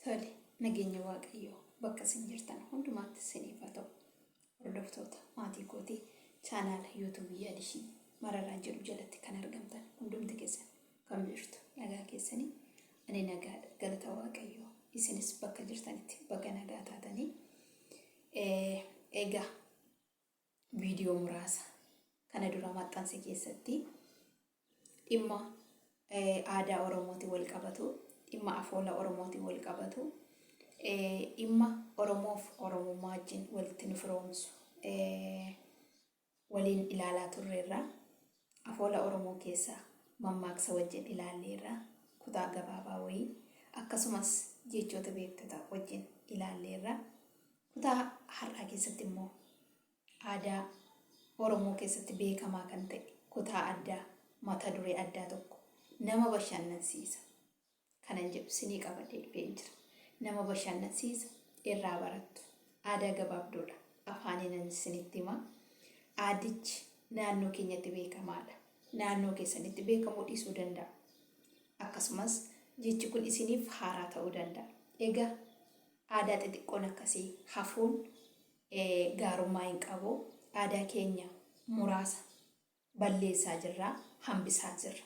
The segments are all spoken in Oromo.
Tole nageenya waaqayyoo bakka isin jirtan hundumaatti isiniif haa ta'u. Hordoftoota maatii kootii chaanaala yuutuubii yaadishii mararaa jedhu jalatti kan argamtan hundumti keessan kan jirtu nagaa keessanii ani nagaadha galata waaqayyoo isinis bakka jirtanitti baga nagaa taatanii egaa viidiyoo muraasa kana dura maxxanse keessatti dhimma aadaa Oromootiin wal qabatu, dhimma afoola Oromootiin wal qabatu, dhimma Oromoof Oromummaa wajjin walitti nu firoomsu waliin ilaalaa turreerra. Afoola Oromoo keessaa mammaaksa wajjin ilaalleerra, kutaa gabaabaa wayii, akkasumas jechoota beektota wajjin ilaalleerra. Kutaa har'aa keessatti immoo aadaa Oromoo keessatti beekamaa kan ta'e kutaa addaa mata duree addaa tokko nama bashannansiisa. kanan jedhu sinii qabadhee dhufeen jira. Nama bashannansiisa, irraa barattu. Aadaa gabaabduudha. Afaaniinan isinitti hima. Aadichi naannoo keenyatti beekamaadha. Naannoo keessanitti beekamuu dhiisuu danda'a. Akkasumas jechi kun isiniif haaraa ta'uu danda'a. Egaa aadaa xixiqqoon akkasii hafuun gaarummaa hin qabu. Aadaa keenya muraasa balleessaa jirra, hambisaa jirra.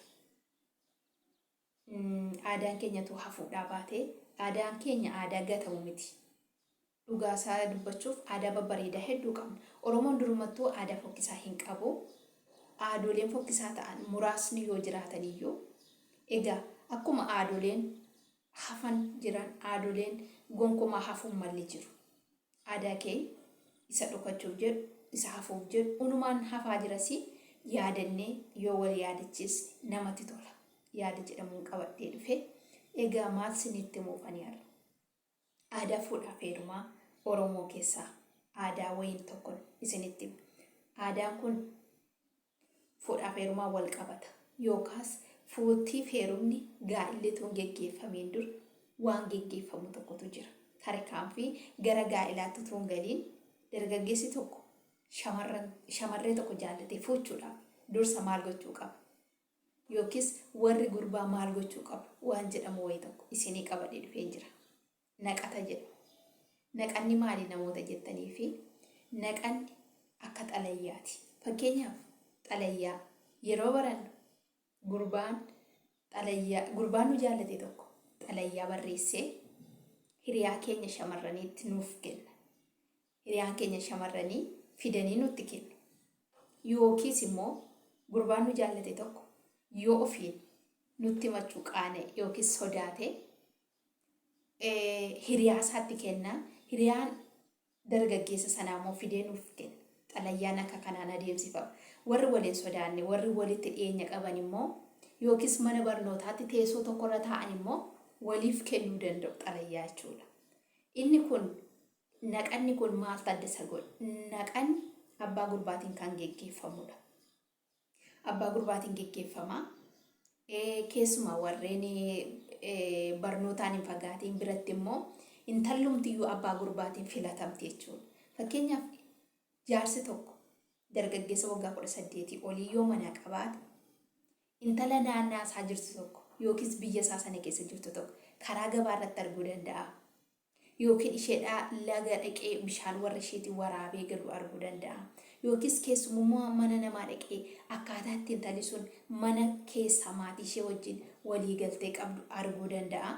Aadaan keenya utuu hafuudhaa baatee Aadaan keenya aadaa gatamu miti. Dhugaa isaa dubbachuuf aadaa babbareedaa hedduu qabna. Oromoon durumattuu aadaa fokkisaa hin qabu. Aadooleen fokkisaa ta'an muraasni yoo jiraatan iyyuu egaa akkuma aadooleen hafan jiran aadooleen gonkumaa hafuun malli jiru. Aadaa kee isa dhokachuuf jedhu, isa hafuuf jedhu unumaan hafaa jirasi yaadannee yoo wal yaadachiisne namatti tola. Yaada jedhamuun qabadhee dhufe. Egaa maal sinitti himuuf ani har'a? Aadaa fuudhaaf heerumaa Oromoo keessaa aadaa wayiin tokkon isinitti hima. Aadaan kun fuudhaaf heerumaan wal qabata yookaas fuuttiif heerumni gaa'illi utuu hin geggeeffamiin dura waan geggeeffamu tokkotu jira. Tarkaanfii gara gaa'elaatti utuu hin galiin dargaggeessi tokko shamarran shamarree tokko jaallatee fuuchuudhaaf dursa maal gochuu qaba? Yookiis warri gurbaa maal gochuu qabu waan jedhamu wayii tokko isinii qabadhee dhufeen jira. Naqata jedhu. Naqanni maali namoota jettaniifi naqanni akka xalayaati. Fakkeenyaaf xalayaa yeroo barannu gurbaan xalayaa gurbaan nu jaallate tokko xalayaa barreessee hiriyaa keenya shamarraniitti nuuf kenna. Hiriyaan keenya shamarranii fidanii nutti kennu. Yookiis immoo gurbaan nu jaallate tokko yoo ofiin nutti machuu qaane yookiis sodaate hiriyaa isaatti kenna. Hiriyaan dargaggeessa sanaa immoo fidee nuuf kenna. Xalayyaan akka kanaan adeemsifama. Warri wal hin sodaanne, warri walitti dhiyeenya qaban immoo yookiis mana barnootaatti teessoo tokkorra taa'an immoo waliif kennuu danda'u xalayyaa jechuudha. Inni kun naqanni kun maaltu adda isa godha? Naqanni abbaa gurbaatiin kan geggeeffamudha. abbaa gurbaatiin geggeeffama. Keessumaa warreen barnootaan hin fagaatiin biratti immoo intallumtiyyuu abbaa gurbaatiin filatamti jechuudha. Fakkeenyaaf jaarsi tokko dargaggeessa waggaa kudha saddeetii olii yoo manaa qabaate intala naannaa isaa jirtu tokko yookiis biyya isaa sana keessa jirtu tokko karaa gabaa irratti arguu danda'a. Yookiin isheedhaa laga dhaqee bishaan warra isheetiin waraabee galu arguu danda'a. Yookiis keessumummaa mana namaa dhaqee akkaataa itti intalli sun mana keessaa maatii ishee wajjin walii galtee qabdu arguu danda'a.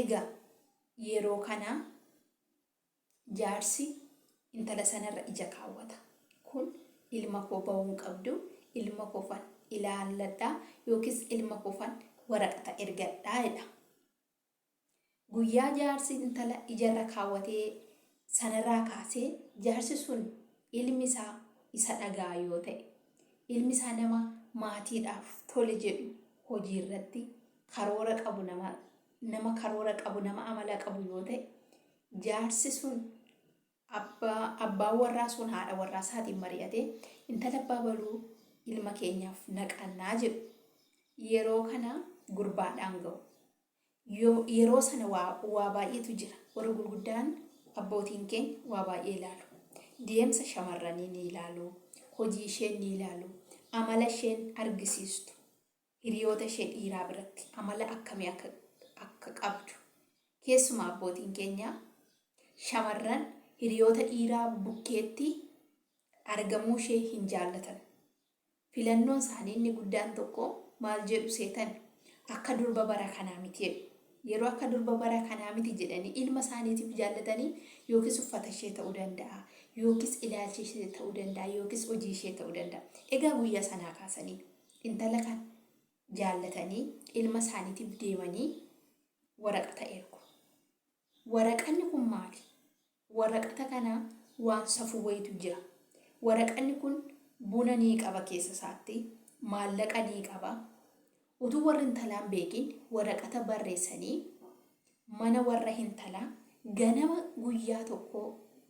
Egaa yeroo kana jaarsi intala sanarra ija kaawwata. Kun ilma koo ba'uun qabdu ilma koofan ilaalladhaa yookiis ilma koofan waraqata ergadhaa jedha. Guyyaa jaarsi intala ija irra kaawwate sanarraa kaasee jaarsi sun ilmi isaa isa dhaga'a yoo ta'e, ilmi isaa nama maatiidhaaf tole jedhu, hojii irratti karoora qabu nama nama karoora qabu, nama amala qabu yoo ta'e, jaarsi sun abbaa abbaan warraa sun haadha warraa isaatiin mari'atee intala abbaa baluu ilma keenyaaf naqannaa jedhu. Yeroo kana gurbaadhaan ga'u. Yeroo sana waa baay'eetu jira. Warri gurguddaan abbootiin keenya waa baay'ee ilaalu. Deemsa shamarranii ni ilaalu, hojii isheen ni ilaalu, amala isheen argisiistu, hiriyoota ishee dhiiraa biratti amala akkamii akka akka qabdu. Keessumaa abbootiin keenya shamarran hiriyoota dhiiraa bukkeetti argamuu ishee hin jaallatan. Filannoon isaanii inni guddaan tokko maal jedhu seetan? Akka durba bara kanaa miti jedhu. Yeroo akka durba bara kanaa miti jedhanii ilma isaaniitiif jaallatanii yookiis uffata ishee ta'uu danda'a, yookiis ilaalcha ishee ta'uu danda'a, yookiis hojii ishee ta'uu danda'a. Egaa guyyaa sanaa kaasanii intala kan jaallatanii ilma isaaniitiif deemanii waraqata ergu. Waraqanni kun maali? Waraqata kana waan safuu wayitu jira. Waraqanni kun buna nii qaba keessa isaatti, maallaqa nii qaba. Utuu warri intalaa hin beekin waraqata barreessanii mana warra hintalaa ganama guyyaa tokkoo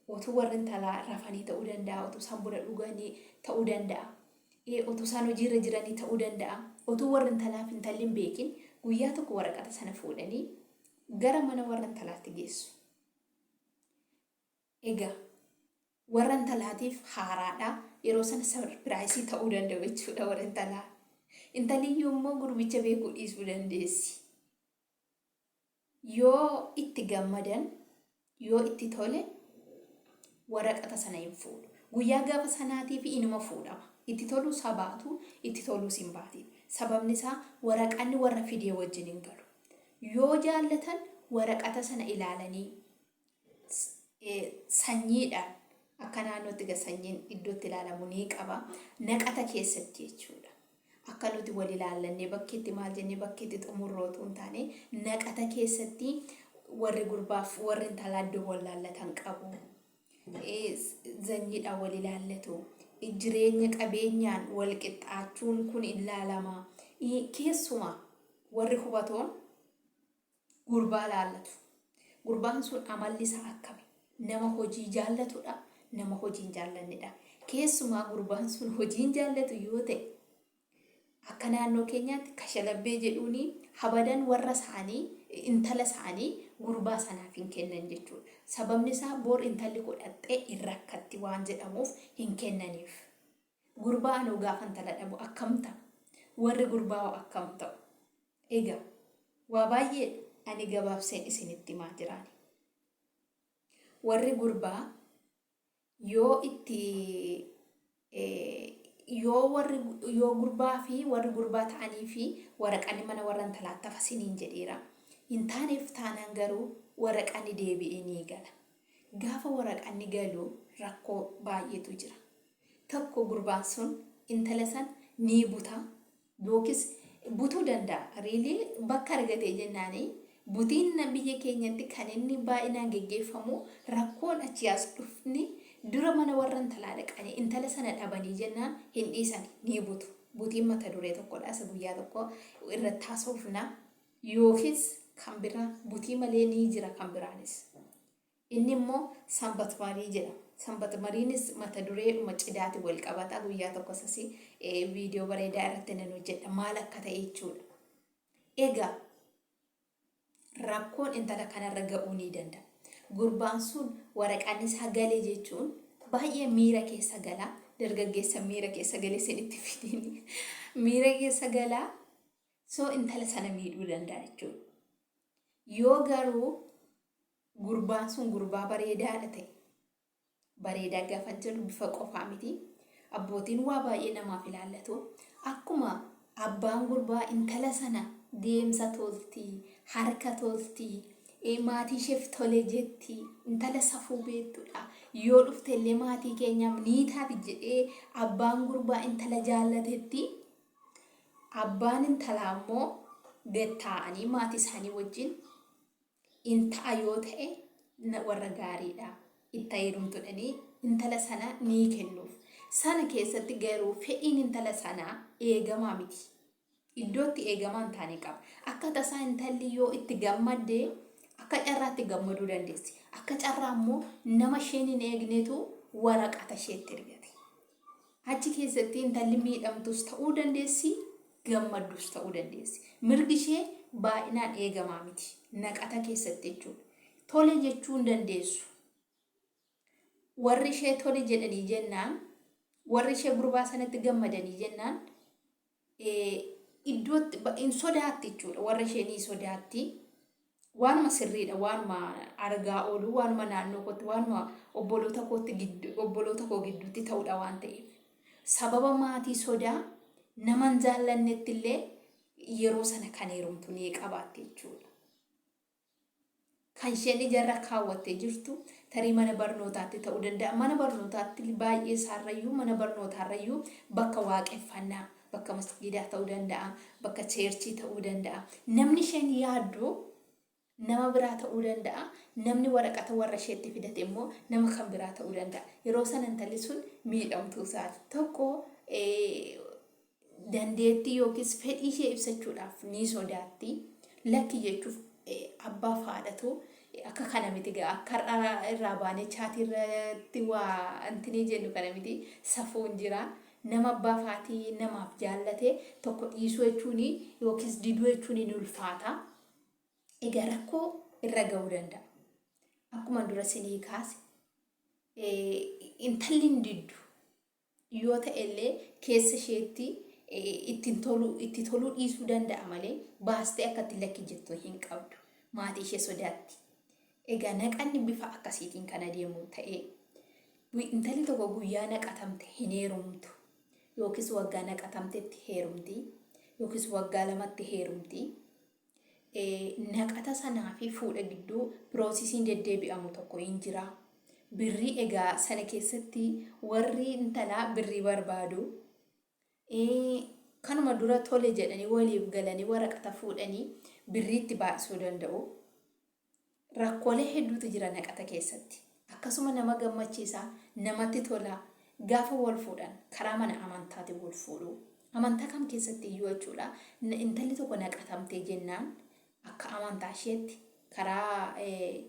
utuu warri intalaa rafanii ta'uu danda'a, utuu isaan buna dhuganii ta'uu danda'a, utuu isaan hojiirra jiranii ta'uu danda'a. Utuu warri intalaa fi intalli hin beekin guyyaa tokko waraqata sana fuudhanii gara mana warra intalaatti geessu. Egaa warra intalaatiif haaraadha. Yeroo sana sarpiraayisii ta'uu danda'u jechuudha warra intalaa. Intaliyyuu immoo gurbicha beekuu dhiisuu dandeessi. Yoo itti gammadan, yoo itti tole waraqata sana hin fuudhu. Guyyaa gaafa sanaatiif inuma fuudhama. Itti toluu sabaatu, itti toluus hin baatiin. Sababni isaa waraqanni warra fidee wajjin hin galu. Yoo jaallatan waraqata sana ilaalanii sanyiidhaan akka naannootti ga sanyiin iddootti ilaalamu ni qaba. Naqata keessatti jechuudha. Akka nuti wal ilaallannee bakkeetti maal jennee bakkeetti xumurroo otoo hin taane naqata keessatti warri gurbaaf warri intalaa iddoo wal laallatan qabu. zanyiidhaan wal ilaallatu. Jireenya qabeenyaan wal qixxaachuun kun ilaalama. Keessuma warri hubatoon gurbaa laallatu. Gurbaan sun amalli isaa akkami? Nama hojii jaallatudha, nama hojii hin jaallannedha. Keessumaa gurbaan sun hojii hin jaallatu yoo ta'e Akka naannoo keenyaatti kashalabbee jedhuun habadan warra isaanii intala isaanii gurbaa sanaaf hin kennan jechuudha. Sababni isaa bor intalli koo dhaqxee hin rakkatti waan jedhamuuf hin kennaniif. Gurbaa anoo gaafa intala dhabu akkam ta'a? Warri gurbaa hoo akkam ta'u? Egaa waa baay'ee ani gabaabseen isinitti himaa jiraani. Warri gurbaa yoo itti yoo warri yoo gurbaa fi warri gurbaa ta'anii fi waraqanni mana warra intalaa tafa siniin jedheera. Hin taaneef taanaan garuu waraqanni deebi'ee ni gala. Gaafa waraqanni galu rakkoo baay'eetu jira. Tokko gurbaan sun intala san ni buta Yookiis butuu danda'a. Really? Bakka argatee jennaani butiinna biyya keenyatti kan inni baay'inaan geggeeffamu rakkoon achii as dhufni dura mana warra intalaa dhaqanii intala sana dhabanii jennaan hin dhiisani ni butu. Butiin mata duree tokkodha isa guyyaa tokko irratti haasofna. Yookiis kan biraa butii malee ni jira kan biraanis. Inni immoo Sanbatmarii jedha. Sanbatmariinis mata dureedhuma cidaatiin wal qabata. Guyyaa tokkos asii viidiyoo bareedaa irratti nan hojjedha. Maal akka ta'e jechuudha. Egaa rakkoon intala kanarra ga'uu ni danda'a. Gurbaan sun waraqaan isaa gale jechuun baay'ee miira keessa gala. Dargaggeessa miira keessa gale isinitti fidiin miira keessa gala. So intala sana miidhuu danda'a jechuudha. Yoo garuu Gurbaan sun gurbaa bareedaadha ta'e. Bareedaa gaafan jedhu bifa qofaa miti. Abbootiin waa baay'ee namaaf ilaallatu. Akkuma abbaan gurbaa intala sana deemsa tolti, harka tolti, eh, maatii isheef tole jetti, intala safuu beektudha. Yoo dhufte illee maatii keenyaaf ni taati jedhee abbaan gurbaa intala jaallatetti abbaan intalaa immoo gad taa'anii maatii isaanii wajjin in ta'a yoo ta'e na- warra gaariidha itti heerumtudhanii intala sana ni kennuuf sana keessatti garuu fedhiin intala sanaa eegamaa miti iddootti eegamaa hin taane qaba akka tasaa intalli yoo itti gammadde akka carraatti gammaduu dandeessi akka carraa immoo nama isheen hin eegnetu waraqata isheetti ergate Achi keessatti intalli miidhamtuus ta'uu dandeessi, gammaddus ta'uu dandeessi. Mirgi ishee baay'inaan eegamaa miti. Naqata keessatti jechuudha. Tole jechuu hin dandeessu. Warri ishee tole jedhanii jennaan, warri ishee gurbaa sanatti gammadanii jennaan, iddootti hin sodaatti jechuudha. Warra ishee ni sodaatti. Waanuma sirriidha. Waanuma argaa oolu, waanuma naannoo kootti, waanuma obboloota kootti giddu, obboloota koo gidduutti ta'udha waan ta'eef. Sababa maatii sodaa naman jaallannetti illee yeroo sana kan heerumtu ni qabaatti jechuudha. Kan isheen ijarra kaawwattee jirtu tarii mana barnootaatti ta'uu danda'a. Mana barnootaatti baay'ee isaarrayyuu mana barnootaarrayyuu bakka waaqeffannaa, bakka masgiidaa ta'uu danda'a, bakka cheerchii ta'uu danda'a. Namni isheen yaaddu nama biraa ta'uu danda'a. Namni waraqata warra isheetti fidate immoo nama kan biraa ta'uu danda'a. Yeroo sana intalli sun miidhamtuu isaati. Tokko dandeettii yookiis fedhii ishee ibsachuudhaaf ni sodaatti. Lakki jechuuf abbaaf haadhatu akka kana miti gaa akka har'a irraa baanee chaatii irratti waa antinii jennu kana miti safuun jira. Nama abbaaf haati namaaf jaallate tokko dhiisuu jechuun yookiis diduu jechuun ni ulfaata. Egaa rakkoo irra ga'uu danda'a. Akkuma dura sinii kaase intalli hin diddu. yoo ta'e illee keessa isheetti ittiin toluu itti toluu dhiisuu danda'a malee baastee akka itti lakki jettu hin qabdu. Maatii ishee sodaatti. Egaa naqanni bifa akkasiitiin kan adeemu ta'ee intalli tokko guyyaa naqatamte hin heerumtu yookiis waggaa naqatamtetti heerumti yookiis waggaa lamatti heerumti. naqata sanaa fi fuudha gidduu piroosisiin deddeebi'amu tokko hin jira. Birrii egaa sana keessatti warri intalaa birrii barbaadu. Kanuma dura tole jedhanii waliif galanii waraqata fuudhanii birriitti baay'isuu danda'u. Rakkoolee hedduutu jira naqata keessatti. Akkasuma nama gammachiisa, namatti tola. Gaafa wal fuudhan karaa mana amantaatiin wal fuudhu. Amantaa kam keessatti iyyuu jechuudha intalli tokko naqatamtee jennaan akka amantaa isheetti karaa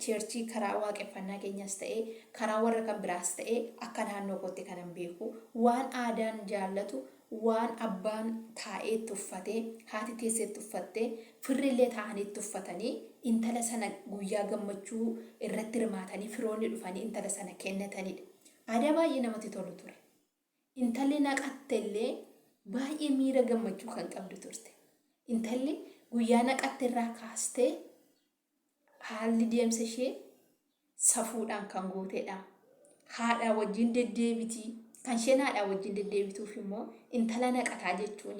cheerchii karaa waaqeffannaa keenyas ta'ee karaa warra kan biraas ta'ee akka naannoo kootti kanan beeku waan aadaan jaallatu Waan abbaan taa'ee itti uffate, haati teessee itti uffatte, firrillee taa'anii itti uffatanii, intala sana guyyaa gammachuu irratti hirmaatanii firoonni dhufanii intala sana kennatanidha. Aadaa baay'ee namatti tolu ture. Intalli naqattellee baay'ee miira gammachuu kan qabdu turte. Intalli guyyaa naqatterraa kaastee Haalli deemsa ishee safuudhaan kan guutedha. Haadhaa wajjin deddeebiti. Kan isheen haadhaa wajjin deddeebituuf immoo intala naqataa jechuun